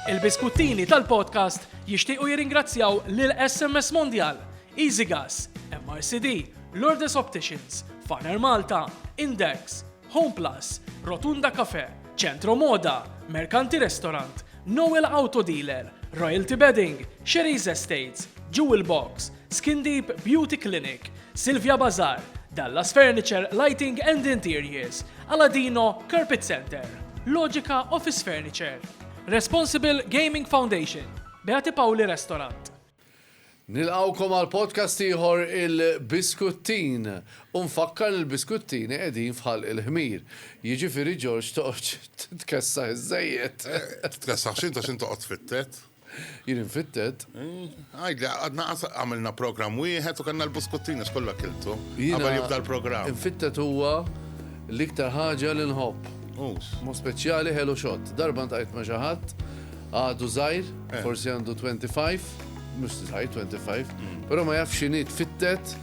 Il-biskuttini tal-podcast jixtiequ jirringrazzjaw lil SMS Mondial, EasyGas, MRCD, Lourdes Opticians, Faner Malta, Index, Home Plus, Rotunda Cafe, Centro Moda, Mercanti Restaurant, Noel Auto Dealer, Royalty Bedding, Sherry's Estates, Jewel Box, Skin Deep Beauty Clinic, Silvia Bazaar, Dallas Furniture, Lighting and Interiors, Aladino Carpet Centre, Logica Office Furniture, Responsible Gaming Foundation, Beati Paoli Restaurant. Nilqgħukom għal podcast ieħor il-Biskuttin. U nfakkar li l-biskuttini qegħdin f'ħalq il-ħmir. Jiġifieri Ġorġ toqgħodx titkessaħ iżejjed. Tkessaħ xi inta x'in toqgħod fittet? Jien infittet. Għajd, għadna għamilna program wieħed u kanna l-buskuttina x'kollha kiltu. Għabel jibda l-program. Infittet huwa l-iktar ħaġa li nħobb. Mo speċjali ħelu xott. Darba ntajt ma' xi ħadd għadu żgħir, eh. forsi għandu 25, mhux żgħir 25, mm. però ma jafx x'inhi tfittet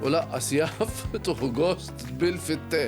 u laqqas jaf tuħu gost bil-fitte.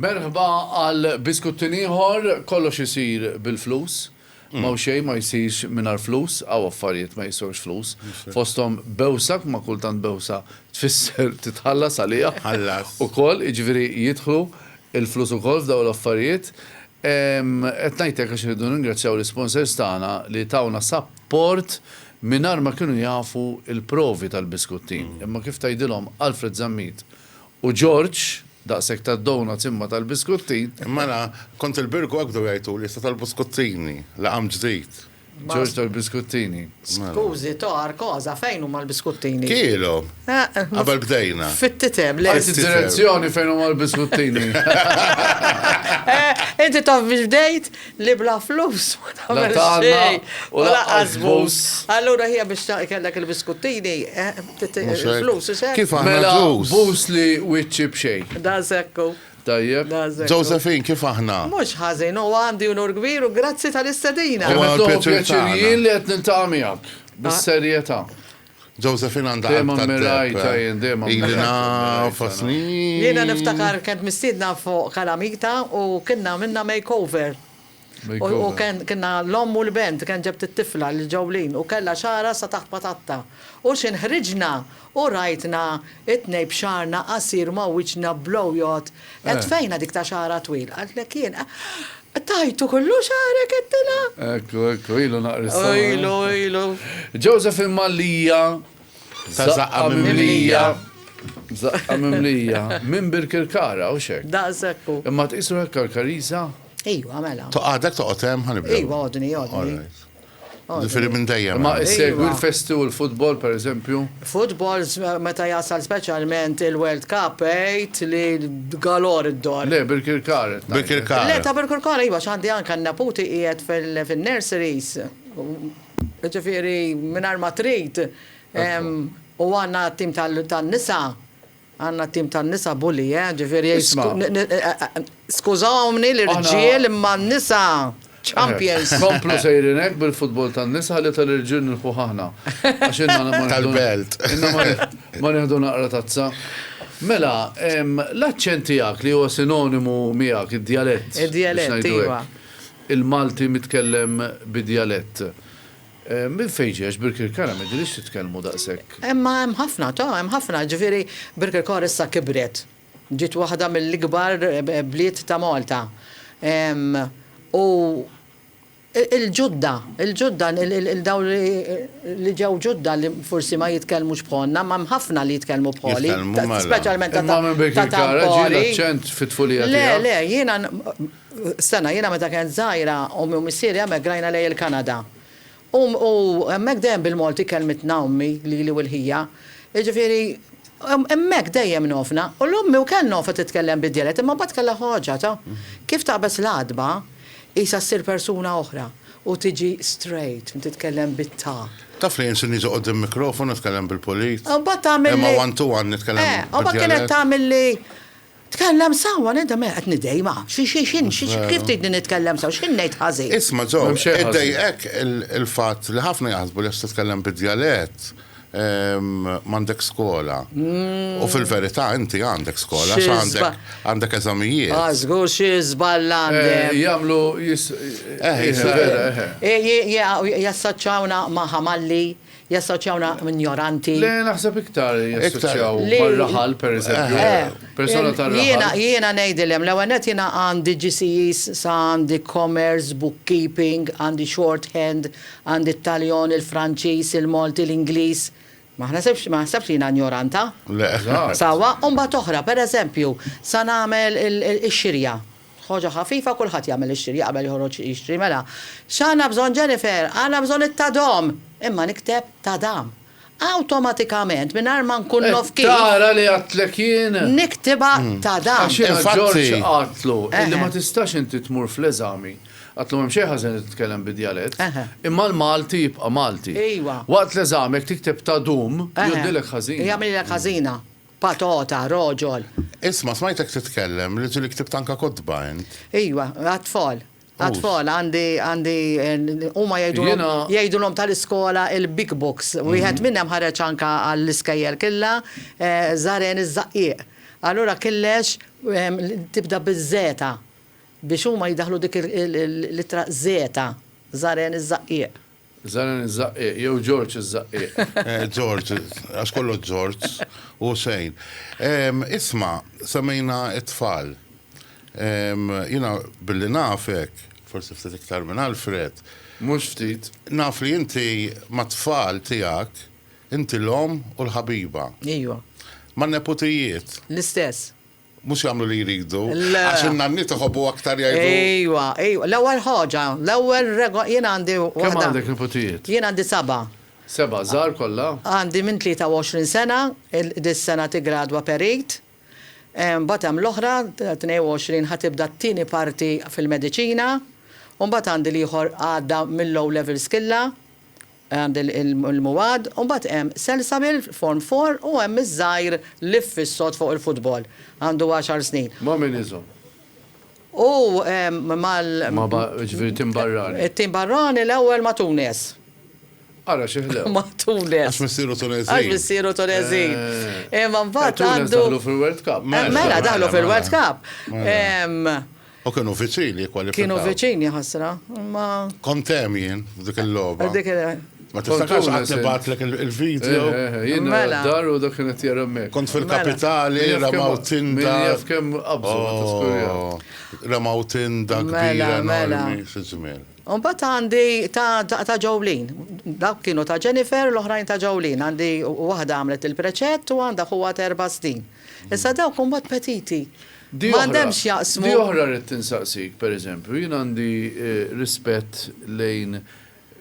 Merħba għal biskuttin ieħor, kollox isir bil-flus. Ma mm. xejn ma jsirx mingħajr flus, għaw affarijiet ma jiswewx flus. Fosthom bewsak ma kultant bewsa tfisser titħallas għalija. Ħallas. Ukoll, jiġifieri jidħlu il-flus ukoll f'daw l-affarijiet. Qed ngħid hekk għax irridu nirringrazzjaw l-isponsors tagħna li tawna sapport mingħajr ma kienu jafu l-provi tal-biskuttin. Imma kif tgħidilhom Alfred Zammit u George, daqshekk tad-donuts imma tal-biskuttin. Mela, kont il-Birgu hekk bdew jgħajtuli, issa tal-buskuttini, l-għam ġdid. Ġorġ tal-biskuttini. Skużi, tar, koza, fejn huma l-biskuttini? Kielhom. Eh, eh, Qabel bdejna. Fit-titem, le. Direzzjoni fejn huma l-biskuttini. Eh, inti taf biex bdejt li bla flus. La tagħna u la qasbus. Allura hija biex kellek il-biskuttini, flus, Kif għamela? Mela, bus li wiċċi b'xejn. Da sekku. Tajjeb. Josephine, kif aħna? Mhux ħażin, huwa għandi unur kbir u grazzi tal-istedina. Huwa l-pjaċir tagħna. Huwa pjaċir jien li qed niltaqa' miegħek, bis-serjetà. Josephine għandha qalb tad-deheb. Dejjem ammirajtha jien, dejjem ammirajtha. Ili naf għal snin. Jiena niftakar kont mistiedna fuq Kalamita u kienna għamilna makeover. U Ken, kienna l-omm u l-bent, Ken ġebt it-tifla lil Jolene u kellha xagħarha sa taħt patatta. U x'ħin ħriġna u rajtna it-tnejn b'xagħarna qasir ma' wiċċna blow jgħodd, Għedt fejna dik ta' xagħarha twil? Qaltlek jien, Eħ, tajtu kollu xagħarek? għedtilha. Ekku, ekku, ilu naqra s-sema. U ilu, ilu. Joseph il-Mallia, Ta' żaqqa mimlija. Żaqqa mimlija. Minn Birkirkara, hux hekk? Daqshekk hu. Imma tqisru hekk għall-Karisa? Ejwa, mela. Toqgħadek toqgħod hemm ħanibda. Ejwa, għodni, għodni. Ġifieri minn dejjem. Ma segwi l-festi u l-futbol pereżempju? Futbol meta jasal speċjalment il-World Cup għid li galor id-dor. Le, bil-kirkar. Bil-kirkar. Le, ta' bil-kirkar iva x'għandi anke n-neputi qiegħed fin-nurseries. Ġifieri mingħajr ma trid. U għandna tim tan-nisa. Għandna tim tan-nisa bully, eh? Ġifieri skużawni l-irġiel imma n-nisa champions! Komplu sejrin hekk bil-futbol tan-nisa ħalli tal-irġiel nilħquh aħna. Għax inna ma Tal-belt. Inna ma nieħdu naqra tazza. Mela, l-aċċent tiegħek li huwa sinonimu miegħek, id-djalett. Id-djalett, iva. Il-Malti mitkellem bid-djalett. Minn fejn ġie għax Birkirkara m'idhiriex titkellmu daqshekk? Imma hemm ħafna, ta, hemm ħafna, jiġifieri Birkirkara issa kibret, ġiet waħda mill-ikbar bliet ta' Malta. U l-Ġudda, il-Ġudda, dawn li ġew Ġudda li forsi ma jitkellmux bħalna, imma hemm ħafna li jitkellmu bħali, speċjalment ta' Tampori. Imma minn Birkirkara ġie l-aċċent fit-tfulija tiegħek? Le, le, jiena Stenna, jiena meta kent żgħira, ommi u missieri hemmhekk grajna lejn il-Kanada. U, u hemmhekk dejjem bil-Malti kellmitna ommi lili u l-ħija. Jiġifieri, hemmhekk dejjem ngħofna. U l-ommi wkell ngħofha titkellem bid-djalett, imma mbagħad kellha ħoġġa ta' kif taqbeż l-għatba, qisha ssir persuna oħra u tiġi straight, titkellem bit-ta. Taf li jien sirni joqgħod hemm mikrofonu, nitkellem bil-pulit. U mbagħad tagħmilli. Imma one to one nitkellem bid-djalett. Eh, u mbagħad kienet tagħmilli Tkellem sew, għaliex da me qed nidej, ma. Xi, xi, x'in, xi, xi, kif tridni nitkellem sew, x'in ngħid ħażin? Isma' Joe, M'hemm xejn ħażin. iddejqek il, il-fatt li ħafna jaħsbu li għax titkellem bid-djalett, ehm, m'għandek skola. U fil-verità inti għandek skola għax Xi għandek, żba- għandek eżamijiet. Ah, żgur xi żball għandi. Eh, jagħmlu jis. Eh, Eħe, jisir. vera, eħe. Eh, je, je, jassoċjawna ma' Ħamalli, Jassoċjawna m'injoranti. Le, naħseb iktar jassoċjaw mar-raħal, pereżempju. Persuna tar-raħal. Jiena ngħidilhem, l-ewwel nett jiena għandi GCEs sa għandi commerce, bookkeeping, għandi shorthand, għandi t-Taljon, il-Franċiż, il-Malti, l-Ingliż. Ma naħsibx ma naħsebx li jiena injoranta. Le. Sewwa, u mbagħad oħra, pereżempju, sa nagħmel ix-xirja. Ħoġa ħafifa kulħadd jagħmel ix-xiri qabel joħroġ jixtri mela. X'għandna bżonn Jennifer? Għandna bżonn it-tadom! Imma nikteb tadam. Awtomatikament mingħajr ma nkun naf kif. Qed tara li għadtlek jien? Niktibha tadam. Għax jiena Ġorġ għadtlu illi ma tistax inti tmur fl-eżami. Għadtlu m'hemm xejn ħażen li titkellem bi djalett. Imma l-Malti jibqa' Malti. Waqt l-eżami jekk tikteb tadum jgħoddilek ħażina. Jagħmililek ħażina. Patata, roġol. Isma', smajtek titkellem li ġieli ktibt anke kotba int. Ejwa, għat-tfal. Għat-tfal għandi, għandi, huma jgħidulhom, jgħidulhom tal-iskola il-big books. Wieħed minnhem ħareġ anke għall-iskejjel killa, Żaren iż-Żaqqieq. Allura killex tibda biż-żeta biex huma jdaħħlu dik l-ittra żeta, Żaren iż-Żaqqieq. Zanin iż-Żaqqieq jew Ġorġ iż-Żaqqieq? Ġorġ, għax kollox Ġorġ u xejn. Isma', semmejna t-tfal. Jiena billi nafek, forsi ftit iktar minn Alfred. Mhux ftit. Naf li inti mat-tfal tiegħek, inti l-omm u l-ħabiba. Ejwa. Man-neputijiet? L-istess. Mhux jagħmlu li jridu. Le. Għax in-nanniet iħobbu aktar jgħidu. Ejwa, ejwa. L-ewwel ħaġa, l-ewwel rego-, jien għandi waħda. Kemm għandek niputijiet? Jien għandi seba'. Seba', żgħar kollha? Għandi minn 23 sena, il, dis-sena tiggradwa perit. Mbagħad hemm l-oħra, 22 ħa tibda t-tieni parti fil-mediċina. U mbagħad għandi l-ieħor għadda mill-O' Levels killha. Għand il-Muad u mbagħad hemm Selsabil Form Four u hemm iż-żgħir liff is-sod fuq il-futbol. Għandu għaxar snin. Ma' min iżomm? U mal. Ma' ba, ġifieri tim barrani. It-tim barrani l-ewwel ma' Tunes. Ara xi ħlew. Ma' Tunes. Għax missieru Tuneżin. Għax missieru Tuneżin. Imma mbagħad għandu. Tunes daħlu fil-World Cup. Mela daħlu fil-World Cup. U kienu viċin jikkwalifikaw. Kienu viċin jaħasra, imma. Kont hemm jien f'dik il-logħba. Dik il Ma tiftakarx qatt nibgħatlek il-video. Eh, eh, eh, jien mela. dar u dak kien qed jara mek. Kont fil-kapitali, mela. ramaw tinda. Min jaf kemm qabżu oh, Ramaw tinda mela, kbira enormi fiż-żmien. Unbat għandi ta' ġowlin. Dak kienu ta' Jennifer, l-oħrajn ta' ġowlin. Għandi waħda għamlet il-preċett u għandha huwa terba' snin. Issa dawk huma t-petiti. Ma għandhem x'jaqsmu. Di oħra rrid insaqsik, pereżempju, jien għandi rispett lejn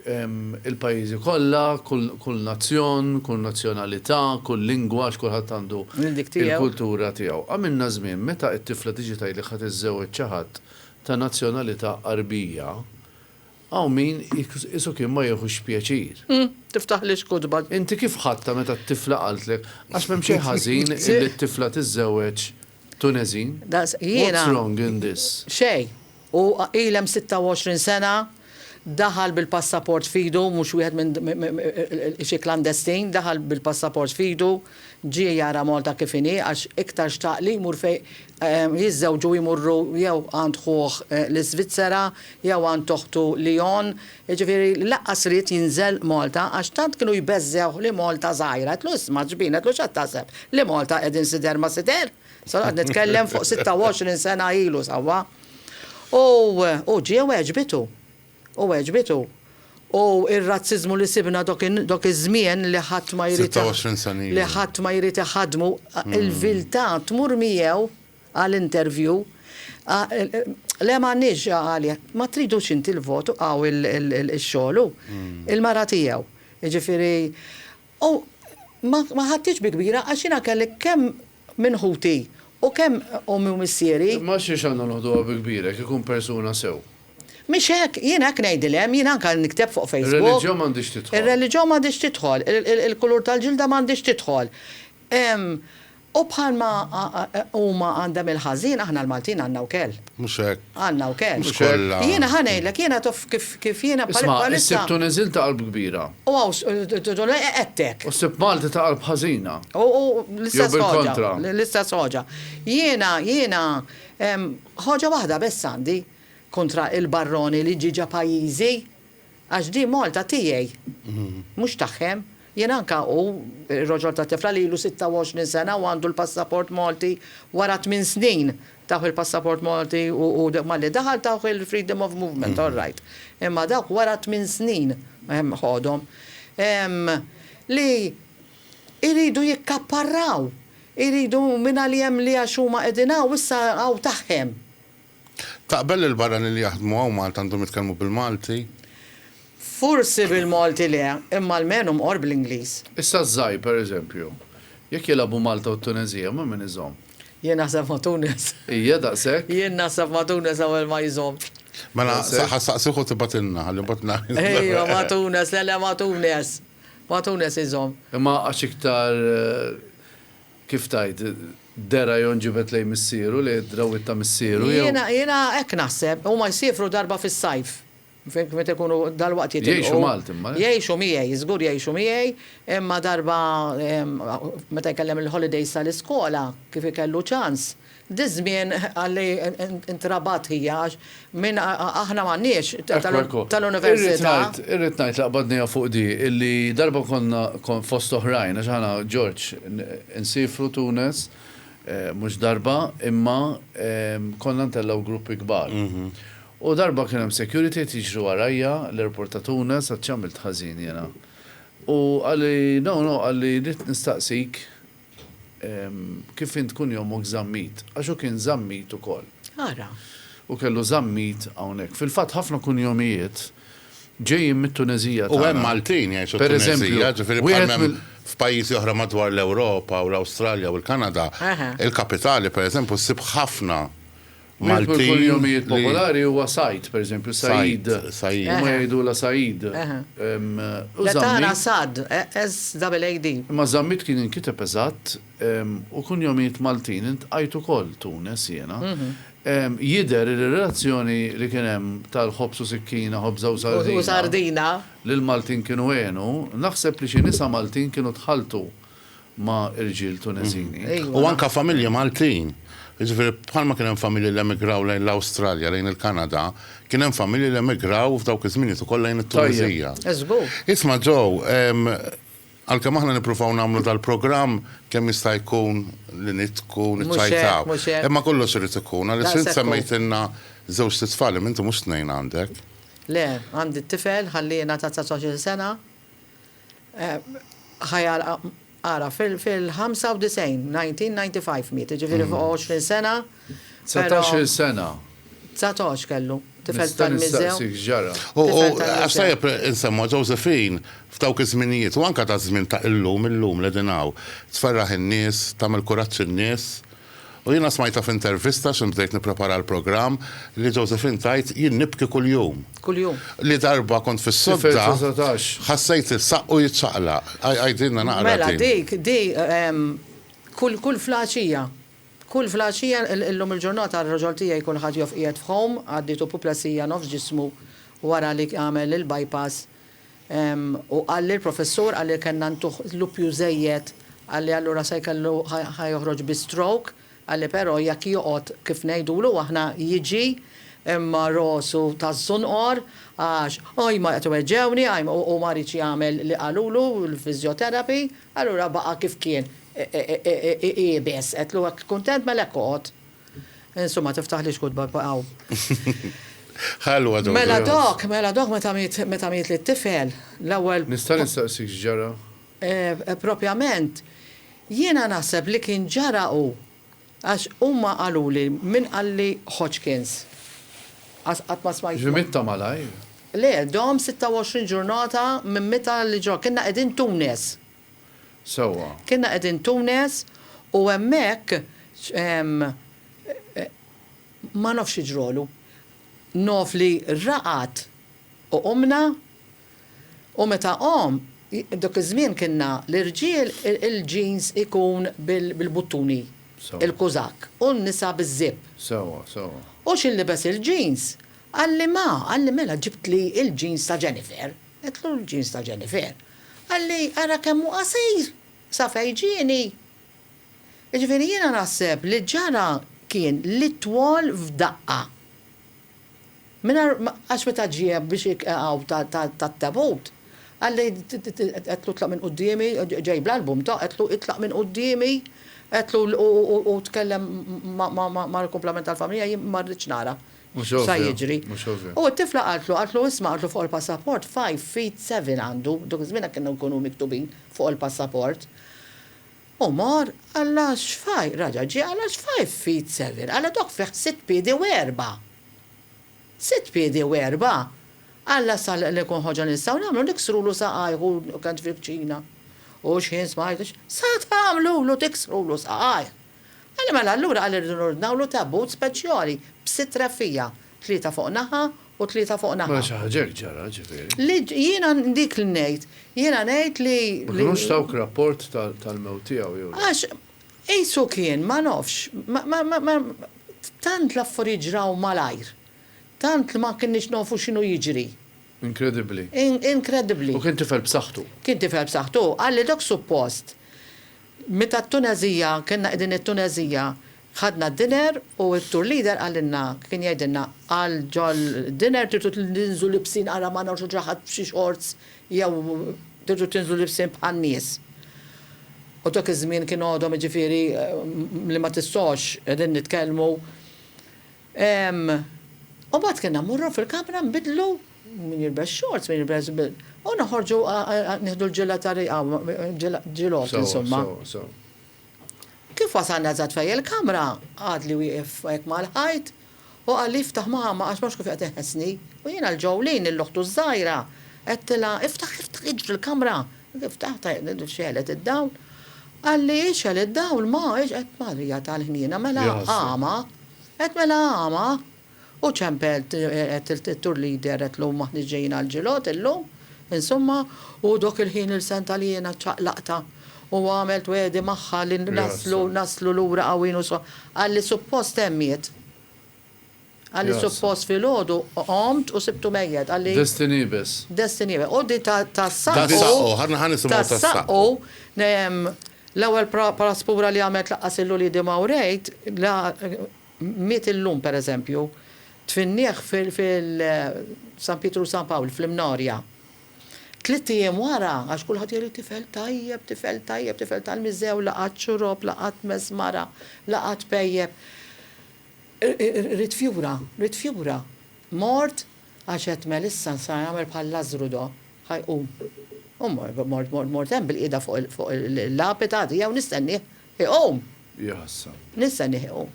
il-pajjiżi kollha, kull nazzjon, kull nazzjonalità, kull lingwa għax kulħadd għandu l-kultura tiegħu. Għamilna żmien meta t-tifla tiġi tgħidlek ħa tiżżewweġ xi ħadd ta' nazzjonalità Għarbija, Hawn min isu kien ma jiehux pjaċir. Hm, tiftaħlix kotba. Inti kif ħadtha meta t-tifla qaltlek, għax m'hemm xejn ħażin illi t-tifla tiżżewweġ Tuneżin? What's wrong in this? Xejn. Hu qil hemm 26 sena, daħal bil-passaport f'idu, mhux wieħed minn xi klandestin, daħal bil-passaport f'idu, Ġie jara Malta kif inhi għax iktar xtaq li jmur fejn jiżżewġu u jmorru jew għand ħuh l-Iżvizzera jew għand oħtu Lyon. Jiġifieri lanqas ried jinżel Malta għax tant kienu jbeżżgħuh li Malta żgħira. Għedtlu, isma' ġbin, għedtlu x'għad taħseb? Li Malta qegħdin sider ma sider? Sa noqgħod nitkellem fuq 26 sena ilu sewwa. U hu ġie u għeġbitu. U għeġbit hu. U r-razziżmu li sibna dok iż-żmien li ħadd ma jrid. 26 sena ilu. Li ħadd ma jrid iħaddmu, il-viltà tmur miegħu għal interview. Le m'għandniex, qal, ma tridux inti l-vot, hawn ix-xogħol hu. Il-mara tiegħu. Jiġifieri U ma ħadthiex bi kbira għax jiena kelli kemm minn ħuti u kemm ommi u missieri. Imma għax xiex għandna noħduha bi kbira jekk ikun persuna sew? Mhix hekk, jiena hekk ngħidilhem, jiena anke nikteb fuq Facebook. Ir-reliġjon m'għandhiex tidħol. Ir-reliġjon m'għandhiex tidħol, il-kulur tal-ġilda m'għandhiex tidħol. U bħalma huma għandhem il-ħażin, aħna l-Maltin għandna wkell. Mhux hekk. Għandna wkell. Mhux kollha. Jiena ħa ngħidlek, jiena taf kif jiena bħalissa. Isma', issib Tuneżin ta' qalb kbira. U għettek. U ssib Malti ta' qalb ħażina. U l-istess ħaġa. Jew bil-kontra. L-istess ħaġa. Jiena, jiena, ħaġa waħda biss għandi kontra il-barroni li ġie ġa pajjiżi. Għax di Malta tiegħi, mhux tagħhem. Jien anke hu, ir-roġol tat-tifla li ilu 26 sena u għandu l-passaport Malti, wara tmien snin tawh il-passaport Malti u malli daħal tawh il-freedom of movement, all right. Imma dawk wara tmien snin ħodhom. Li jridu jikkapparraw, jridu mingħalihemli għax huma qegħdin hawn issa hawn tagħhem. Taqbel li l-barranin li jaħdmu hawn Malta għandhom jitkellmu bil-Malti? Forsi bil-Malti le, imma almenu mqorr bl-Ingliż. Issa ż-Żgħir, per eżempju, jekk jilagħbu Malta u t-Tuneżija, ma' min iżomm? Jien naħseb ma' Tunis. Hija daqshekk? Jien naħseb ma' Tunis l-ewwel ma jżommx. Mela, ħa nsaqsih u tibgħatilna, ħalli mbagħad ngħid. Ejwa, ma' Tunis, le le ma' Tunis. Ma' Tunis iżomm. Imma għax iktar Kif tgħid, Derajon ġibed lejn missieru, lejn id-drawwiet ta' missieru, jew. Jiena, jiena hekk naħseb. Huma jsiefru darba fis-sajf. Fhimtni, meta jkunu dalwaqt jitilqu. Jgħixu Malti imma, le? Jgħixu miegħi, żgur jgħixu miegħi, imma darba, meta jkellem il-holidays tal-iskola, kif ikellu ċans, Diż-żmien li ntrabat hija għax min aħna m'għandniex tal-università. Irrid ngħid li qbadnija fuq di illi darba konna fost oħrajn għax aħna Ġorġ insiefru Tunes mhux darba imma konna ntellgħu gruppi kbar. U darba kien hemm security qed jiġri warajja l-airport ta' Tunes għad x'għamilt ħażin jiena. U qali no no qali rrid nistaqsik Kif int tkun jommok żammit, għax hu kien żammit ukoll. Ara! Hu kellu żammit hawnhekk. Fil-fatt ħafna kunjomijiet ġejjin mit-Tuneżija tagħna. U hemm Maltin jgħixu t-Tuneżija, ġifieri bħal ma hemm f'pajjiżi oħra madwar l-Ewropa u l-Awstralja u l-Kanada, il-kapitali pereżempju ssib ħafna Wieħed mill-kunjomijiet popolari huwa Said, pereżempju, Said. Huma jgħidulha Said. Le tara Sad, SAAD. Imma Zammit kien jinkiteb eżatt u kunjomijiet Maltin iltqajt ukoll Tunis jiena. Jidher li r-relazzjoni li kien hemm tal-ħobż u sikkina, ħobża u sardina, li l-Maltin kienu għenu, naħseb li xi nisa Maltin kienu tħalltu. ma' irġiel Tuneżini. U anke familji Maltin. Jiġifieri bħalma kien hemm familji li emigraw lejn l-Awstralja, lejn il-Kanada, kien hemm familji li emigraw f'dawk iż-żminijiet ukoll lejn it-Tuneżija. Tajjeb. Żgur. Isma' Joe, għalkemm aħna nippruvaw nagħmlu dal-programm kemm jista' jkun li nidhku, niċċajtaw. Mhux hekk, mhux hekk. Imma kollox irid ikun. Daqshekk hu. Għaliex int semmejtilna żewġt itfal, imma inti mhux tnejn għandek. Le, għandi tifel, ħalliena ta' 19-il sena, ħa jagħlaq ara fil-95, 1995 miet, jiġifieri fuq 20 sena. Dsatax-il sena. Dsatax kellu. Tifel tal-miżew. Għax tajjeb insemmu Josephine f'dawk iż-żminijiet u anke taż-żmien ta' illum, illum li qegħdin hawn, tferraħ in-nies, tagħmel kuraġġ in-nies. U jiena smajtha f'intervista x'hemm bdejt nipprepara għall-programm li Josephine tgħid jien nibki kuljum. Kuljum. Li darba kont fis-sodda ħassejt is-saqqu jiċċaqlaq. Għidilna naqra. Mela dik di kull kull flaċija. Kull flaċija illum il-ġurnata r-raġol tiegħi kulħadd joff qiegħed f'home għaddietu puplesija nofs ġismu wara li għamel il-bypass. U qalli l-professur, qalli kellna ntuh l-uppju żejjed, qalli allura se jkellu ħa joħroġ bi stroke, qalli però jekk joqgħod kif ngħidulu aħna jiġi imma rosu ta' żunqor għax ajma qed iweġġgħuni, ajma u ma riedx jagħmel li qalulu l-physiotherapy, allura baqa' kif kien iqiebes. Għedtlu jekk kuntent mela hekk oqgħod. Insumma, tiftaħlix kutba pa' hawn. Ħalwa dawk. Mela dok, mela dok meta miet, meta miet li t-tifel, l-ewwel. Nista' nistaqsik x'ġara? Propjament, jiena naħseb li kien ġara hu, għax huma qaluli, min qalli Hodgkins. Għax qatt ma smajt. Ġifieri miet ta' malajr? Le, dom 26 ġurnata minn mitha li ġo, kienna qegħdin Tunes. sewwa. Kienna qegħdin Tunes u hemmhekk ma nafx xi ġrolu. Naf li raqad u qumna u meta qom, dak iż-żmien kienna l-irġiel il-jeans ikun bil-buttuni, il-kuzakk, u n-nisa biz-zipp. Sewwa, sewwa. U xi nlibes il-jeans? Qalli ma, qalli mela ġibtli il-jeans ta' Jennifer. Għedtlu l-ġins ta' Jennifer, Qalli, ara kemm hu qasir, sa fejn ġieni! Jiġifieri jiena naħseb li ġara kien li twol f'daqqa. Mingħajr, għax meta ġieb biex iqegħu tat-tebut, qalli, għedtlu tlaq minn quddiemi, ġej bl-album ta', għedtlu itlaq minn quddiemi, għedtlu u tkellem mal-kumplament tal-familja, jien ma rridx nara. sa jiġri. U t-tifla qaltlu, qaltlu isma' qaltlu fuq il-passaport five feet seven għandu, dak iż-żmien hekk kienu jkunu miktubin fuq il-passaport. U mar, qallha x'five, raġa' ġie qallha x'five feet seven, qallha dok fih sitt piedi u erbgħa. Sitt piedi u erbgħa! Qallha sa li nkun ħoġġa nistgħu nagħmlu niksrulu saqajh u kant fil-kċina. U x'ħin smajt, sa tagħmlulu tiksrulu saqajh! Qal li mela allura qal irridu nordnawlu tabut speċjali b'sitt reffiegħa, tlieta fuq naħa u tlieta fuq naħa. Mela xi ħaġa hekk ġara, ġifieri. Li jiena dik li ngħid. Jiena ngħid li. Ma kinux tawk rapport tal-mewt tiegħu jew le? Għax qisu kien, ma nafx, ma tant l-affarijiet ġraw malajr, tant li ma kinniex nafu x'inhu jiġri. Inkredibbli. Inkredibbli. U kien tifel b'saħħtu. Kien tifel b'saħħtu. Qal li dak suppost Meta t-Tuneżija, kellna qegħdin it-Tuneżija, ħadna d-dinner u t-tour leader qalilna, kien jgħidilna, qal ġol-dinner tridu tinżlu libsin ara ma nagħmlux xi ħadd b'xi shorts jew tridu tinżlu libsin bħan-nies. U dak iż-żmien kien għodhom jiġifieri li ma tistgħux, qegħdin nitkellmu, U mbagħad kellna mmorru fil-kamra nbidlu, min jilbes xorts, min jilbes u noħorġu nieħdu l-ġilla ta' riqa, ġilgħot insomma. Kif wasalna eżatt fejn il-kamra, għadli wieqef hekk mal-ħajt u qalli iftaħ mama għax ma nafx kif qed iħessni. U jiena 'l ġeww lejn 'l oħtu ż-żgħira, għedtilha, iftaħ, iftaħ, iġri l-kamra. Ftaħt, xegħlet id-dawl. Qalli, ixgħel id-dawl ma, ixgħel, Marija tal-ħniena, mela qama. Għedt mela għama, u ċempel għedt it-tour leader għedtlu maħniex ġejjin għall-ġilgħod illum, insumma, u dok il-ħin il-sentgħa li jiena ċċaqlaqtha u għamilt wegħdi magħha li naslu naslu lura qawwin u so. Qalli suppost għemiet. Qalli suppost filgħodu għomt u sibtu mejjet. Qalli. Destiny biss. Destiny biss. U di tas-saqqu. Tas-saqqu, ħa nisimgħu tas-saqqu. L-ewwel Palazz Pura li għamilt laqqas lil uliedi ma wrejt la miet illum pereżempju. Tfinnieh fil San Pietru u San Pawl fl-Imnorja. Tlitt ijiem wara, għax kulħadd jgħidli tifel tajjeb, tifel tajjeb, tifel tal-Miżew, la qatt xrob, la qatt mess mara, la qatt pejjep. Ridt fjura, ridt fjura. Mort Għax għedt Melissa nsar nagħmel bħal Lażżru do ħa jqum. U mort, mort, mort, mort hemm bil-qiegħda fuq il, fuq il-lapita għad jew nistennieh iqum. Hi ħassa. Nistennieh iqum.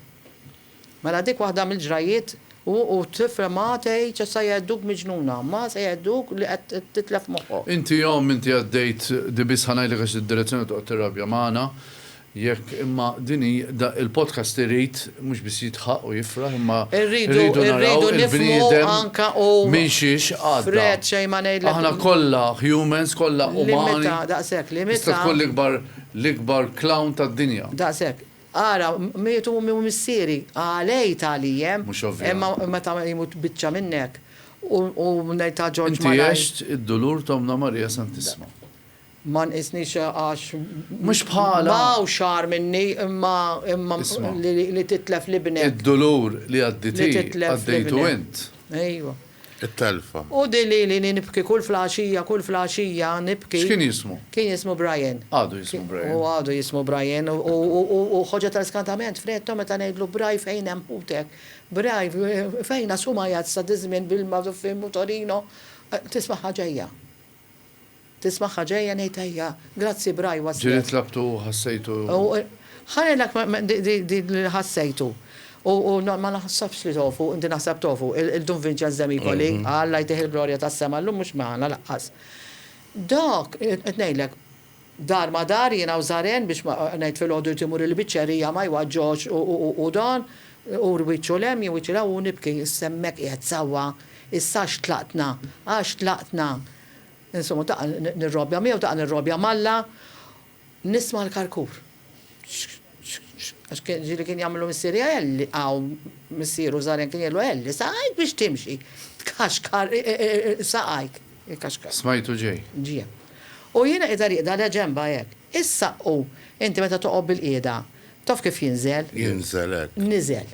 Mela dik waħda mill-ġrajjiet u, u t-tifla ma tgħidx issa jgħidduk miġnuna, ma se jgħidduk li qed titlef moħħok. Inti omm, inti għaddejt, di biss ħa ngħidlek għax id-Direzzjoni toqgħod tirrabja magħna, Jekk imma din hi da il-podcast irid mhux biss jidħaq u jifraħ imma rridu naraw il-bniedem minn xiex għadda. Aħna kollha humans, kollha umani. Tista' tkun l-ikbar l-ikbar clown tad-dinja. Daqshekk. Ara, miet ommi u missieri, għalej tagħlijem, imma meta jmut biċċa minnek u ngħid ta' Ġorġ Malaj. Inti għext id-dulur ta' Ommna Marija Santissma. Ma nqisnix għax Mhux bħala. ma hawnx agħar minni imma imma Isma'. li titlef libnek. Id-dulur li għaddiet hi għaddejtu int. Ejwa. It-telfa. U di li li nibki kull flaxija kull flaxija nibki. X'kien jismu? Kien jismu Brian. Għadu jismu Brian. U għadu jismu Brian u ħoġġa ta' skantament f'Reto meta ngħidlu Bri fejn hemm ħutek? Bri fejn għax huma jgħid sa diż-żmien bil-Magħżufin u Torino tisma' ħaġa hija. Tismagħha ġejja ngħid ejja. Grazzi Bry was Ġieli yes. tlabtu u ħassejtu. Ħa ngħidlek din li ħassejtu. U ma naħsebx li tofu, inti naħseb tofu, il-Dun Vinċenz de Micoli, Alla jtih il-glorja tas-sema, llum mhux magħna lanqas. Dak, qed ngħidlek, dar ma dar, jien hawn żaren biex ma, ngħid filgħodu jrid imur il-biċċerija ma jwaġġgħux u dan, u wiċċu 'l hemm, jien wiċċi 'l hawn u nibki, issa hemmhekk qiegħed sewwa, issa għax tlaqtna, għax tlaqtna. Insomma, taqa' nirrobja miegħu, taqa' nirrobja m'Alla, nisma' l-karkur. Għax kien ġieli kien jagħmillu missieri Elli, aw, missieru żgħirien kien jgħidlu Elli, saqajk biex timxi, tkaxkar saqajk, ikkaxkar. Smajtu ġej. Ġie. U jiena qiegħda rieqda le ġenbha hekk. Is-saqqu, inti meta toqgħod bilqiegħda, taf kif jinżel? Jinżel hekk. Niżel.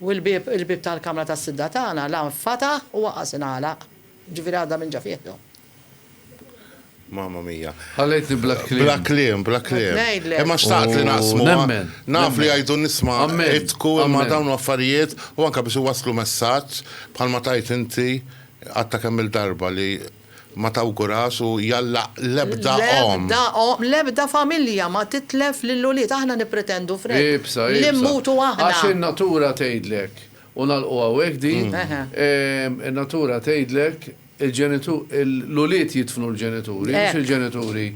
U l-bieb, il-bieb tal-kamra tas-sidra tagħna la nfataħ u waqas ingħalaq. Jiġifieri għadha minn ġa fih jew. Mamma mia. Ħallejtni bla kliem. Bla kliem, bla kliem. Qed ngħidlek. Imma xtaqt li naqsmuha. U nemmen. Naf li jgħidu n-nisma għidtku imma dawn affarijiet u anke biex iwasslu messaġġ bħalma tgħid inti għadta kemm-il darba li Ma tawgurax u jallaq l-ebda omm. L-ebda omm, l-ebda familja ma titlef lill-ulied. Aħna nippretendu, Fred, li mmutu aħna. Ibsa, ibsa. Għax in-natura tgħidlek, u nagħlqu hawnhekk din, in-natura tgħidlek l-ulied jidfnu l-ġenituri, mhux il-ġenituri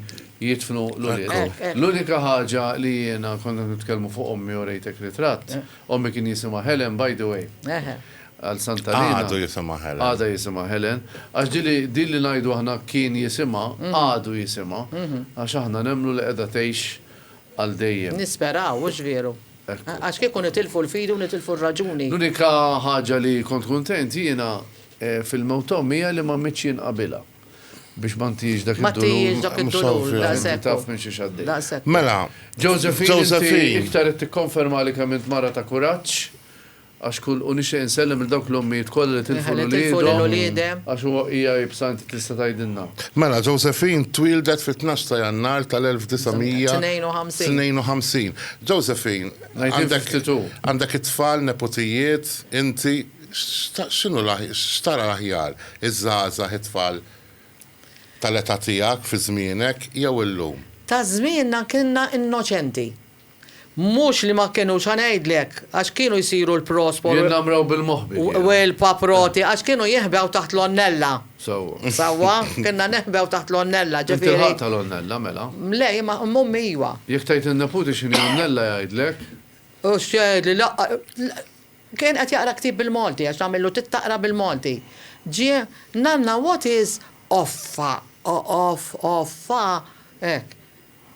jidfnu l-ulied. L-unika ħaġa li jiena, kont qed nitkellmu fuq ommi u rejtek ritratt, Ommi kien jisimha Helen by the way. Għal Santa Lina. Għadu jisimha Helen. Għadha jisimha Helen. Għax din li din li ngħidu aħna kien jisimha, għadu jisimha. Għax aħna nemmnu li qiegħda tgħix għal dejjem. Nisperaw, hux vieru? Ekku. Għax kieku nitilfu l-fidi u nitilfu r-raġuni. L-unika ħaġa li kont kuntent jiena fil-mewt t'ommi hija li ma mitx jien qabilha. biex ma ntijiex dak Ma tijiex dak id-dulur, daqsek. Taf minn xiex għaddej. Daqsek. Mela, Josephine, iktar qed tikkonferma li kemm int mara ta' kuraġġ, għax kull u nixtieq insellem il dawk l-ommijiet kollha li tilfu l-uliedhom. Għax huwa hija ibsa inti tista' tgħidilna. Mela, Josephine twieldet fit-tnax ta' Jannar tal-1952. 52. Josephine, għandek it-tfal, neputijiet, inti. X'inhu x'tara l-aħjar, iż-żgħażagħ, it-tfal tal-età tiegħek fi żmienek jew illum? Ta' żmienna kienna innoċenti. Mhux li ma kinux, ħa ngħidlek, għax kienu jsiru l-prospol u. Jinnamraw bil-moħbi kienu. U l-paproti, għax kienu jeħbew taħt l-onnella. Sewwa. Sewwa, kienna neħbew taħt l-onnella, ġifieri. Inti l-ħadd tal-onnella, mela? Le, imma ommi iwa. Jekk tgħid lin-neputi x'inhi onnella jgħidlek? U x'jgħidli, Kien qed jaqra ktieb bil-Malti għax tagħmillu tittaqra bil-Malti. Ġie, Nanna what is offa? Off, offa? Hekk.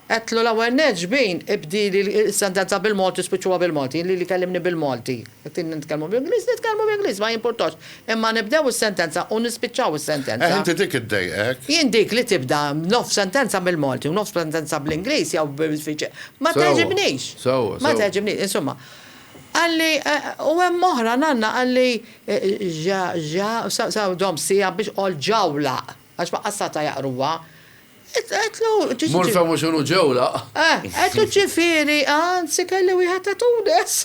Għedtlu l-ewwel nett xbin ibdili s-sentenza bil-Malti u spiċċuha bil-Malti, inli li kellimni bil-Malti. Jekk tridni nitkellmu bl-Ingliż, nitkellmu bl-Ingliż, ma jimpurtax. Imma nibdew is-sentenza u nispiċċaw is-sentenza. Eh, inti dik iddejqek? Jien dik li tibda nofs sentenza bil-Malti u nofs sentenza bl-Ingliż jew bil-Sviċer, ma tgħeġibnix. Sewwa, sewwa. Ma tgħeġibnix, insumma. Qalli, u hemm oħra, Nanna, qalli, Ġa, ġa, sew dom siegħa biex qol ġawlaq, għax ma qassatha jaqruha. Għedtlu, ġi. Mur fehmu x'inhu ġewlaq. Eh, għedtlu ġifieri, anzi kelli wieħed ta' Tunis.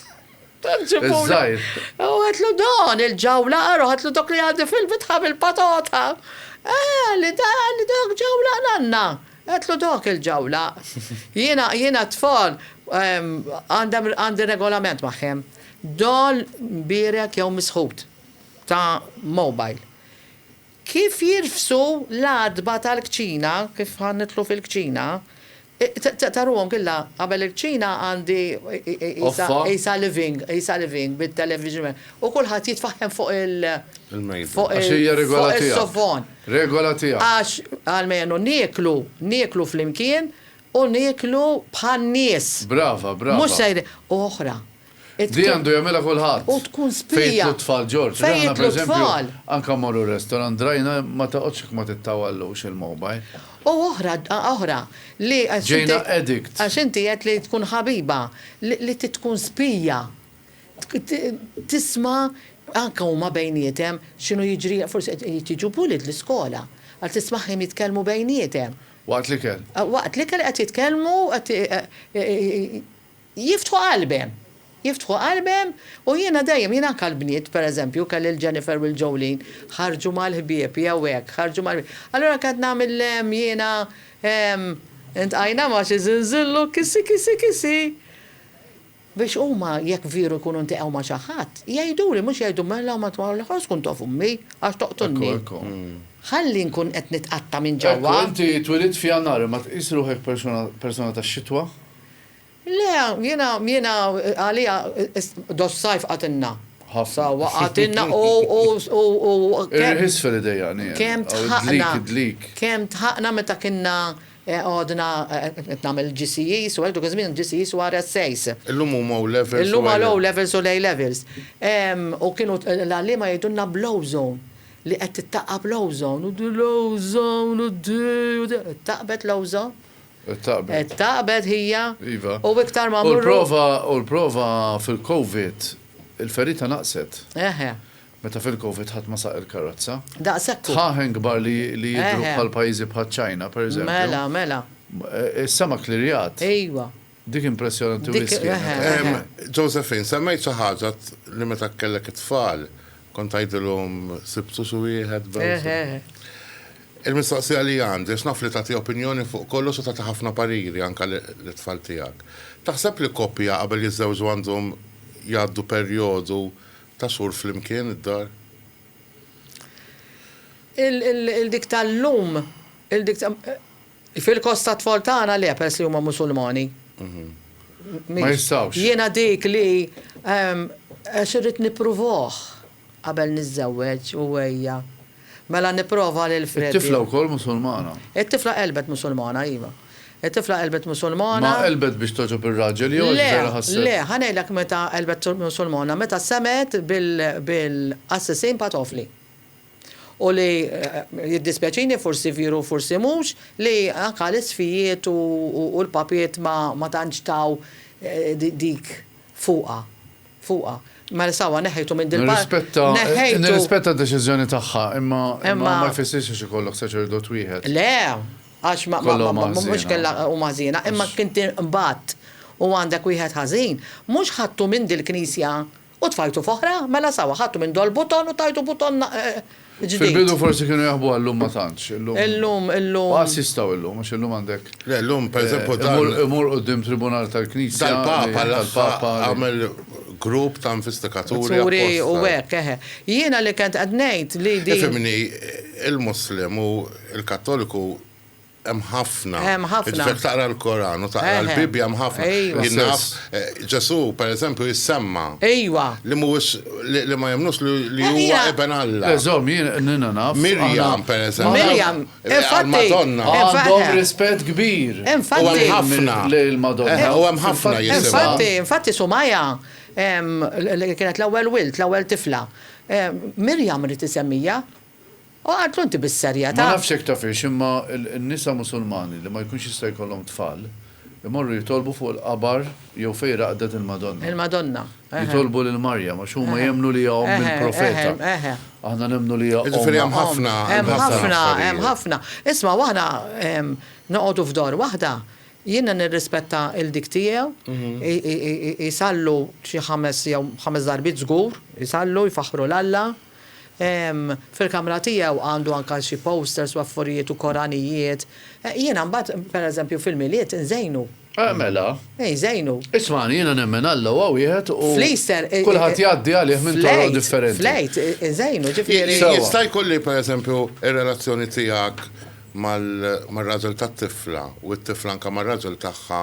Tant ġibuli. Iż-żgħir. U għedtlu dan il-ġawlaq, ara għedtlu dok li għandi fil-bitħa bil-patata. Eh, qalli, dan, dok ġawlaq Nanna. Għedtlu dak il-ġawla. Jiena, jiena t-tfal għandi regolament magħhom. Doll mbierek jew misħut ta' mobile. Kif jirfsu l-għatba tal-kċina, kif ħa nidħlu fil-kċina, taruhom killa qabel il-kċina għandi qisha living, qisha living bit-television u kulħadd jitfaħħem fuq il-, fuq is-sofon. Regola tiegħu. Għax, almenu, nieklu, nieklu flimkien u nieklu bħan-nies. Brava, brava. Mhux ser, u oħra. Di għandu jagħmilha kulħadd. U tkun spija. Fejn jitlu t-tfal, George. Fejn jitlu t-tfal. Anke mmorru r-restaurant, drajna ma toqgħodx jekk ma tittawallux il-mobile. U oħra, oħra, li għax inti. Ġejna addict. Għax inti għedt li tkun ħabiba, li tkun spija. tisma' anke huma bejniethem x'inhu jiġri, forsi qed jiġu bullied l-iskola, għad tismagħhim jitkellmu bejniethem. Waqt l-ikel. Waqt l-ikel qed jitkellmu, qed jiftħu qalbhem, jiftħu qalbhem u jiena dejjem, jiena anke l-bniet pereżempju kelli l-Jennifer u l-Jolene, ħarġu mal-ħbieb jew hekk, ħarġu mal-ħbieb. Allura anke qed nagħmel jiena iltqajna ma' xi żinżillu kissi kissi kissi. Biex huma jekk vieru jkunu ntiqgħu ma xi ħadd, jgħiduli mhux jgħidu mela ma tmur l-aħħar tkun taf ummi għax toqtulni. Ħalli nkun qed nitqatta' minn ġewwa. Ekku inti twilidt f'Jannar imma tqis ruħek persuna persuna tax-xitwa? Le jiena jiena għalija dos-sajf qatilna. Ħafna. Sewwa qatilna u u u u kemm. Ir-riħis fil-idejani hemm. Kemm tħaqna. Id-dlik id-dlik. Kemm tħaqna meta kinna Għadna qed nagħmel GCEs u hekk, dak iż-żmien GCEs u RSAs. Illum huma O-Levels u A-Levels. Illum għal O-Levels u l-A-Levels. U kienu l-għalliema jgħidulna bl-ozone, li qed tittaqqab l-ozone. U din l-ozone u din u dik. Ittaqqbet l-ozone? Ittaqqbet. Ittaqqbet hija. Iva. U iktar ma mmorru. U l-prova fil-Covid, il-ferita naqset. Eħe. Meta fil-Covid ħadd ma saq il-karozza. Daqshekk hu. Dħaħen kbar li li jidhru Eħe. bħal pajjiżi bħaċ-Ċina, pereżempju. Mela, mela. Is-sema klirjat. Ejwa. Dik impressjonanti Dik- wisq kienet. eħe, eħe. Em, Josephine, semmejt xi ħaġa t- li meta kellek it-tfal kont tgħidilhom sibtu xi wieħed b'hewsa. Eħe, eħe. Il-mistoqsija li għandi, għax naf li tagħti opinjoni fuq kollox u tagħti ħafna pariri anke li- lit-tfal tiegħek. Taħseb li koppja qabel jiżżewġu għandhom jgħaddu perjodu Ta' sur flimkien id-dar. Il dik ta' llum, il dik ta'. Fil-kost ta' tfal tagħna le peress li huma Musulmani. Ma jistgħux. Jiena dik li għax irrid nippruvaħ qabel niżżewweġ u ejja. Mela nipprova lil Freddy. It-tifla wkoll Musulmana? It-tifla qelbet Musulmana, iva. It-tifla qelbet Musulmana. Ma qelbet biex togħġob ir-raġel jew għax vera ħasset. Le, le, ħa ngħidlek meta qelbet Musulmana, meta semgħet bil-qassisin patofli. U li, jiddispjaċini, forsi vieru u forsi mhux, li anke l-isfijiet u l-papiet ma tantx taw dik fuqha. fuqha. Mela sawa, neħħejtu minn din il-parti. Nirrispetta, nirrispetta d-deċiżjoni tagħha, imma imma ma jfissirx li ikollok saċerdot wieħed. Le, għax ma mhux kellha huma ħżiena, imma kien tinqbad u għandek wieħed ħażin, mhux ħadtu minn dil-knisja u tfajtu f'oħra, mela sawa, ħadtu minn Dolbuton u tajtu Buton ġdid. Fil-bidu forsi kienu jaħbu għal-lum ma tantx. Illum, illum. Għas jistgħu illum, għax illum għandek. Le, illum, per eżempju, tal. Imur qudiem tribunal tal-Knisja. Tal-Papa, tal-Papa. Għamel grupp ta' investikaturi. Turi u hekk, eħe. Jiena li kent qed ngħid li di. Fimni, il-Muslim u il-Kattoliku Hemm ħafna. Hemm ħafna. Jiġifieri taqra l-Koran u taqra l-Bibbja hemm ħafna. Jinnaf eh, Ġesù pereżempju jissemma. Ejwa. Li mhuwiex li ma jemnux li huwa iben Alla. Eżom jien nina naf. Mirjam pereżempju. Mirjam. Madonna. Għandhom rispett kbir. Infatti. U hemm ħafna. Lejl Madonna. Eh, u hemm ħafna jisimgħu. Infatti, infatti Sumaja li kienet l-ewwel wilt, l-ewwel tifla. Mirjam rid isemmija. Oqgħod lul inti bis-serjetà. Ma nafx jekk tafhiex imma n-nisa Musulmani li ma jkunx jista' jkollhom tfal imorru jitolbu fuq il-qabar jew fejn raqdet il-Madonna. Il-Madonna, eħe. Jitolbu lil Marjam għax huma Eħe. jemmnu li hija omm Eħe, il-Profeta. eħe, eħe. Aħna nemmnu li hija omm. Jiġifieri hemm ħafna, hemm Hemm ħafna ħafna, hemm affarijiet. ħafna. Isma' u aħna ehm noqogħdu f'dor waħda, jiena nirrispetta il dik tiegħu, i i i i isallu xi ħames jew ħames darbiet żgur, isallu, jfaħħru 'l Alla, Fil-kamra tiegħu għandu anke xi posters u affarijiet u koranijiet. Jiena mbagħad, pereżempju, fil-Milied inżejnu. Eh, mela. Eh, jżejnu. Ismagħni, jiena nemmen Alla huwa wieħed u. Fl-Easter. Kulħadd jgħaddi għalih minn toroq differenti. Fl-Għid, inżejnu, ġifieri. Jista' jkun li, pereżempju, ir-relazzjoni tiegħek mar-raġel tat-tifla u t-tifla anke mar-raġel tagħha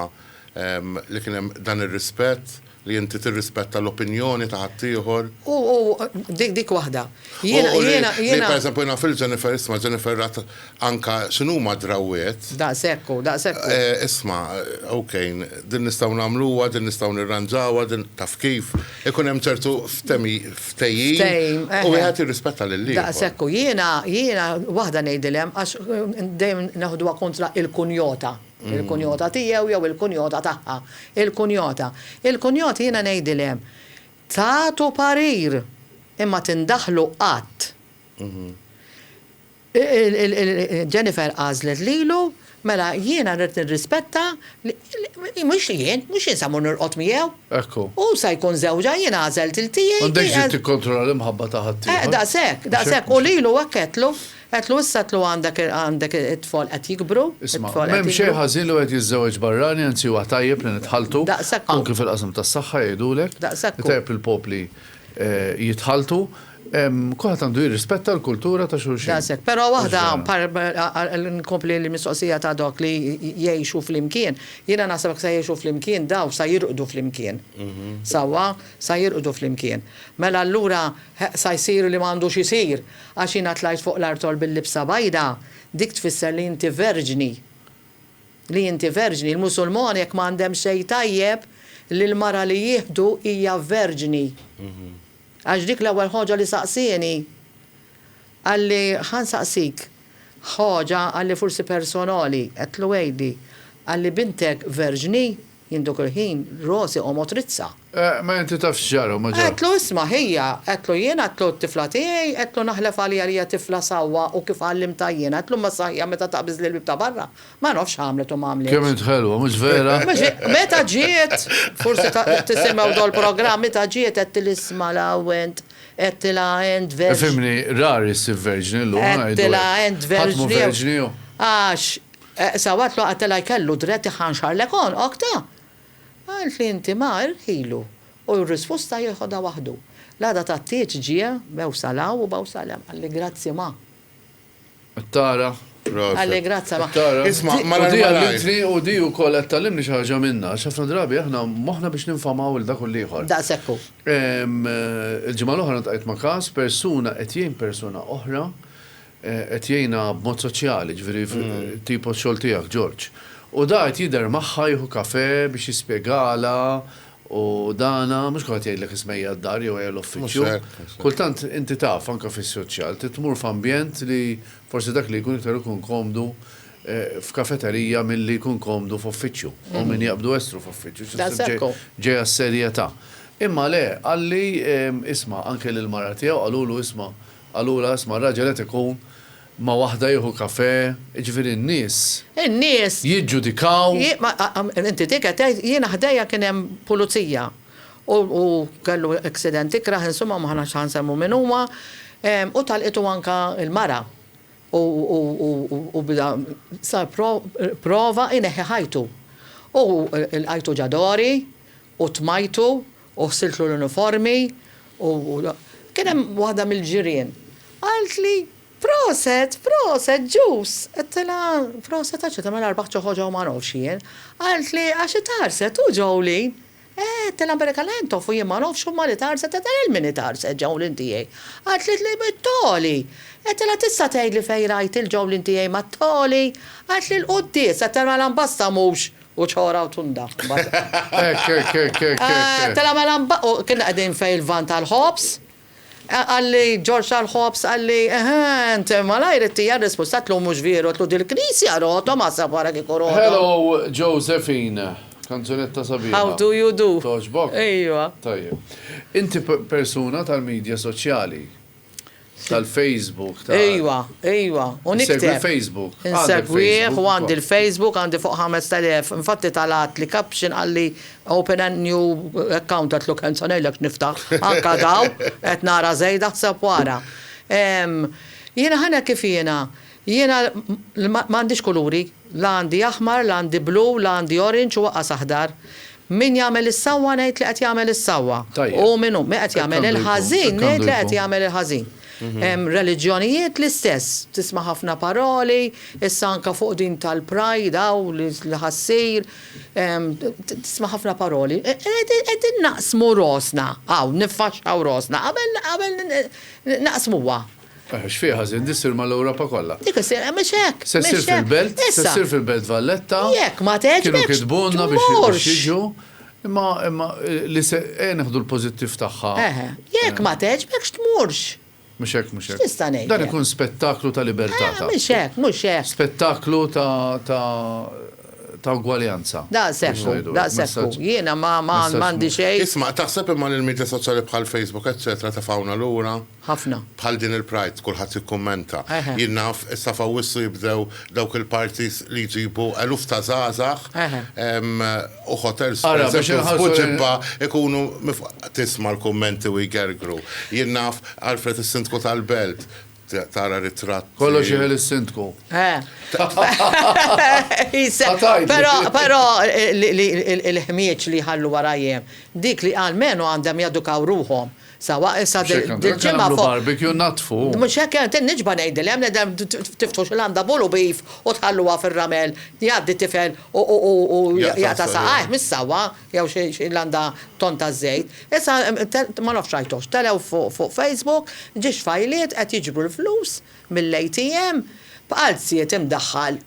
li kien hemm dan ir-rispett? Li inti tirrispetta l-opinjoni ta' ħaddieħor. U, u, dik, dik waħda. Jiena, U li, jiena, li jiena. pereżempju jiena fil Jennifer, isma' Jennifer rat anka x'inhuma drawwiet. Daqshekk u, daqshekk u. Eh, isma', ok, din nistgħu nagħmluha, din nistgħu nirranġawha, din, taf kif, ikun hemm ċertu ftemi, ftehim. Ftehim, eħe. U wieħed jirrispetta lil ieħor. Daqshekk u. Jiena, jiena waħda ngħidilhem, għax dejjem neħduha kontra il-kunjota. Il-kunjota tiegħu jew il-kunjota tagħha. Il-kunjota. Il-kunjoti jiena ngħidilhem, tagħtu parir, imma tindaħlu qatt. Jennifer għażlet lilu, mela jiena rrid nirrispetta li, mhux li jien, mhux jien se mmur nirqod miegħu. Ekku. Hu se jkun żewġha, jien għażelt il-tiegħi. M'għandekx dritt tikkontrolla l-imħabba ta' ħaddieħor. Daqshekk, daqshekk. U lilu hekk għedtlu, Għedtlu, Issa tlu' għandek, għandek it-tfal qed jikbru, Isma', it-tfal qed m'hemm xejn jikbru. ħażin li wieħed jiżżewweġ barrani, anzi huwa tajjeb li nitħalltu, Daqshekk hu. anki fil-qasam tas-saħħa jgħidulek, Daqshekk hu. tajjeb li l-popli jitħalltu, ehm, kulħadd għandu jirrispetta l-kultura ta' xulxin. Daqshekk. Però waħda, Mhux vera. par, inkompli l-mistoqsija ta' dawk li jgħixu flimkien, jiena naħseb jekk sa jgħixu flimkien daw sa jirqdu flimkien. Sewwa? Sa jirqdu flimkien. Mela allura, sa jsir li m'għandux isir. Għax jiena tlajt fuq l-artol bil-libsa bajda, dik tfisser li inti verġni. Li inti verġni. Il-Musulmoni hekk ma għandhemx xejn tajjeb li l-mara li jieħdu hija verġni. Għax dik l-ewwel ħaġa li saqsieni, qalli, ħa nsaqsik ħaġa, qalli, forsi personali, għedtlu għidli, qalli, bintek verġni? Jien dak il-ħin rosi qomgħod rizza. Eh, ma inti taf x'ġara u ma ġara. Għedtlu isma' hija, għedtlu jien, għedtlu t-tifla tiegħi, għedtlu naħlef għaliha li hija tifla sewwa u kif għallimtha jien, għedtlu imma saħja meta taqbiż lill-bieb ta' barra, ma nafx x'għamlet u ma għamlitx. Kemm int ħelwa, mhux vera? Meta ġiet, forsi tisimgħu dawn il-programm, meta ġiet għedtilha isma' l-awwent, għedtilha int verġni. Ifhimni, rari ssir verġni llum, ngħidu hekk. Għedtilha int verġni. Ħadd mhu verġni hu. Għax Sawat lu qatilha jkellu drett iħanxarlek għonqok ta! Qalt li inti ma irħilu u r-rispusta jieħodha waħdu. L-għada tat-Tieġ ġie bew sal hawn u bew sal hemm. Qalli grazzi ma. Qed tara? Qalli grazzi ma. Isma' malajr malajr. U di għallitni u di wkoll qed tgħallimni xi ħaġa minnha għax ħafna drabi aħna moħħna biex ninfamaw lil dak u l-ieħor. Daqshekk hu. Il-ġimgħa l-oħra ltqajt ma' każ, persuna qed jgħin persuna oħra Qed jgħinha b'mod soċjali, ġifieri tipo x-xogħol tiegħek, Ġorġ. U da qed jidher magħha jieħu kafè biex jispjegalha u dana, mhux kulħadd jgħidlek isma' ejja d-dar jew ejja l-uffiċċju. Kultant inti taf anke fis-soċjal trid tmur f'ambjent li forsi dak li jkun iktar ikun komdu f'kafeterija milli jkun komdu f'uffiċċju. Hawn min jaqbdu estru f'uffiċċju xi ssib ġejha s-serjetà. Imma le, qalli isma' anke lill-mara tiegħu qalulu isma' Allura, isma', raġel qed ikun ma' waħda jieħu kafè, jiġifieri n-nies. In-nies. Jiġġudikaw. Inti dik qed tgħid, jiena ħdejja kien hemm pulizija u kellu accident ikrah, insumma ma aħnax ħa nsemmu min huwa, u talqitu anke l-mara u bda sar prova ineħħi ħajtu. U lqajtu ġa dori U tmajtu, u ħsiltlu l-uniformi, u kien hemm waħda mill-ġirien qaltli, Proset, proset, ġus! Għedtilha, Proset għax qed nagħmel arbaħ ġo ħoġa u ma nofx jien. Qaltli, Għax itarset hu Jolene! Eħe, għedtilha, Amerika la hemm tofu jien ma nofx huma li tarset, għedtilha, lil min itarset Jolene tiegħi? Qaltlitli, Mit-Togħli! Għedtilha, Tista' tgħidli fejn rajt il-Jolene tiegħi mat-Togħli? Qaltli, Il-quddies, għedtilha, Mela mbasta mhux! U ċora u tunda. Hekk, hekk, hekk, hekk, hekk. Tela' mela mba-, u kinna qegħdin fej il-van tal-ħobż, qalli Ġorġ tal-ħobż qalli, eħe, int malajr ittija r-risposta, għedtlu mhux vieru, għedtlu dil-knisja rotom, aħseb ara kieku rotom. Hello Josephine, kanzunetta sabiħa. How do you do. Togħġbok? Ejwa. Tajjeb. Inti persuna tal-midja soċjali. Tal-Facebook, tal- Ejwa, ejwa, u Segwi nikteb. l-Facebook. Għandek Insegwih Facebook u għandi ukoll. l-Facebook, għandi fuq 5,000. Infatti talat li caption qalli open a new account għedtlu kemm se ngħidlek x'niftaħ. Anka daw qed nara żejda ħseb wara. Ehm, Jiena ħa ngħidlek kif jiena. Jiena l- ma ma għandix kuluri. La għandi aħmar, la għandi blu, la għandi orange u aqqas aħdar. Min jagħmel is-sewwa ngħid li qed jagħmel is-sewwa. U min hu qed jagħmel il-ħażin ngħid li qed jagħmel il-ħażin. Reliġjonijiet l-istess. Tisma' ħafna paroli, issa anke fuq din tal-Pride hawn li ħa ssir, tisma' ħafna paroli. Qegħdin naqsmu rosna hawn, niffaxxaw rosna qabel naqsmuha. Eħe, x'fih ħażin, di ssir mal-Ewropa kollha. Dik issir, eh, mhix hekk. Se ssir fil-Belt, se ssir fil-Belt Valletta. Jekk ma tgħeġbekx. Kienu kitbulna biex jiġu. Imma imma eh, li se eh, neħdu l-pożittiv tagħha. Eħe, jekk ma tgħeġbekx tmurx. Mhux hekk, mhux hekk. Tista' ngħid. Dan ikun spettaklu ta' libertà. Ah, mhux hekk, mhux hekk. Spettaklu ta' ta' ta' ugwaljanza. Da' sekku, da' sekku. Jiena ma ma għandi xejn. Isma' taħseb imma l-medja soċjali bħal Facebook, eċċetera, tefawna lura. Ħafna. Bħal din il-Pride, kulħadd jikkummenta. Jien naf, issa f'Awwissu jibdew dawk il-parties li jġibu eluf ta' żgħażagħ u hotels pereżempju f'Buġibba jkunu Tisma' l-kummenti u jgergru. Jien naf, Alfred is-Sindku tal-Belt, tara ritratti. Kollox jeħel is-Sindku. Però il-ħmieġ li jħallu warajhiem, dik li almenu għandhom jedukaw ruħhom Sewwa issa dil-ġimgħa fuq. Mhux hekk għandna nagħmlu, nagħmlu barbecue nnaddfu. Mhux hekk għan, qed niġba' ngħidilhem li dem tiftħu xi landa full u beef u tħalluha fir-ramel, jgħaddi tifel u u jaqta' saqajh, mhix sewwa, jew xi landa tonn ta' żejt. Issa ma nafx rajtuhx, telgħu fuq Facebook, ġiex fajliet qed jiġbru l-flus mill-ATM, b'qalziet imdaħħal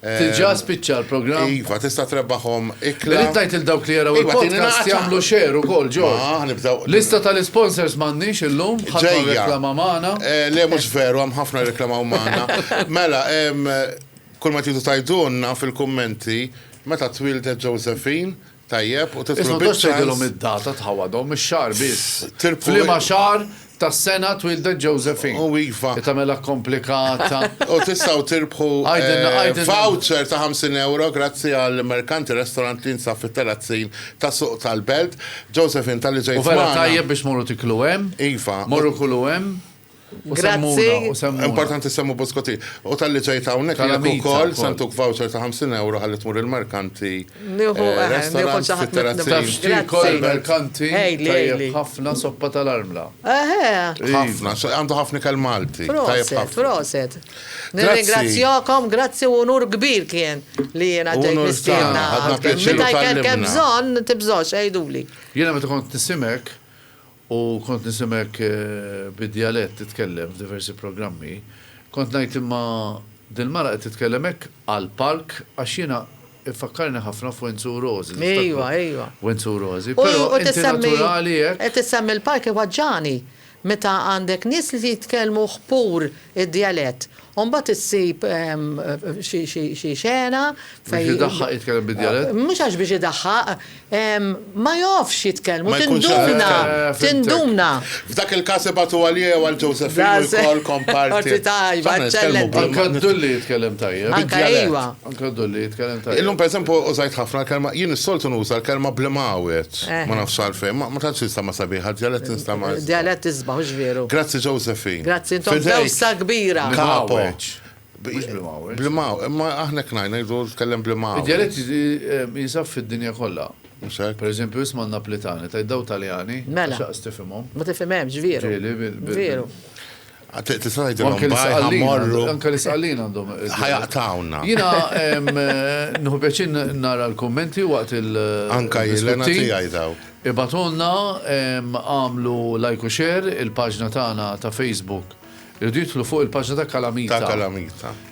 Tiġa ehm, spiċċa l-programm. Iva, tista' trebbaħhom ikla. Irid ngħid il dawk li jaraw iva, il-podcast jagħmlu xeru kol ġo. Lista tal-sponsors m'għandniex illum, ħadd reklama magħna. Eh, le mhux veru, hemm ħafna reklama magħna. Mela, ehm, kull ma tidu tajdunna fil-kummenti meta twildet Josephine Tajjeb, u titlob iċ-ċans. Isma' tgħidx tgħidilhom id-data ta' wadhom, ix-xahar biss. F'liema xahar tas-sena twieldet Josephine. U iva. Li tagħmilha komplikata. U tistgħu tirbħu voucher ta' ħamsin ewro grazzi għal Mercanti Restaurant li jinsab fit-Terrazzin ta' Suq tal-Belt. Josephine, talli ġejt magħna. U vera tajjeb biex tmorru tiklu hemm. Iva. Morru kulu hemm. Grazzi. Importanti semmu Boskotti. U tal-li ġejt hawnhekk jekk ukoll santuk voucher ta' 50 euro ħalli tmur il-merkanti. Nieħu restaurant fit-terrazzi. Kol merkanti. Ħafna soppa tal-armla. Ħafna, għandu ħafna kell Malti. Proset, proset. Nirringrazzjakom, grazzi u nur kbir kien li jiena ġejt mistiedna. Meta jkellkem bżonn, tibżgħux, għiduli. Jiena meta kont nisimek, U kont nisimek bid-djalett titkellem f'diversi programmi. Kont ngħid imma dil-mara qed titkellem hekk għall-palk għax jiena iffakkarni ħafna f'Wenzu u Rożi, niftakru Wenzu u Rożi. Però inti naturali hekk. Qed issemmi l-palk iwaġġagħni meta għandek nies li jitkellmu ħpur id-djalett U mbagħad issib xi xena fejn. Biex idaħħaq jitkellem bid-djalett? Mhux għax biex idaħħaq, ma jofx jitkellmu, tinduna, tinduna. F'dak il-każ ibagħtu għalija jew għal Ġewsefin u jkollkom parti. Parti tajba, eċċellenti. Anke d-dulli jitkellem tajjeb. Anke iva. Anke Dolly jitkellem tajjeb. Illum pereżempju użajt ħafna l-kelma, jien is-soltu nuża l-kelma bl-imgħawed. Ma nafx għalfejn, ma tantx nistama' sabiħa, d-djalett nistama'. Djalett isbaħ, hux veru? Grazzi Josephine. Grazzi, intom dewsa kbira. Kapo. Mhux bl-imgħawed. Bl-imgħawed, imma aħna hekk ngħid, ngħidu tkellem bl-imgħawed. Id-djalett jinsab fid-dinja kollha. Mhux hekk? Pereżempju isma' n-Napletani, tgħid daw Taljani, għax lanqas tifhimhom. Ma tifhimhemx, veru. Ġieli, bil. Veru. Tista' tgħidilhom bajħa morru. Anke l-isqallin għandhom. Ħajaqtawna. Jiena nħu pjaċin nara l-kummenti waqt il- Anka jilena tiegħi daw. Ibatulna għamlu like u share il-paġna tagħna ta' Facebook. Irridu jidħlu fuq il-paġna ta' Kalamita. Ta' Kalamita.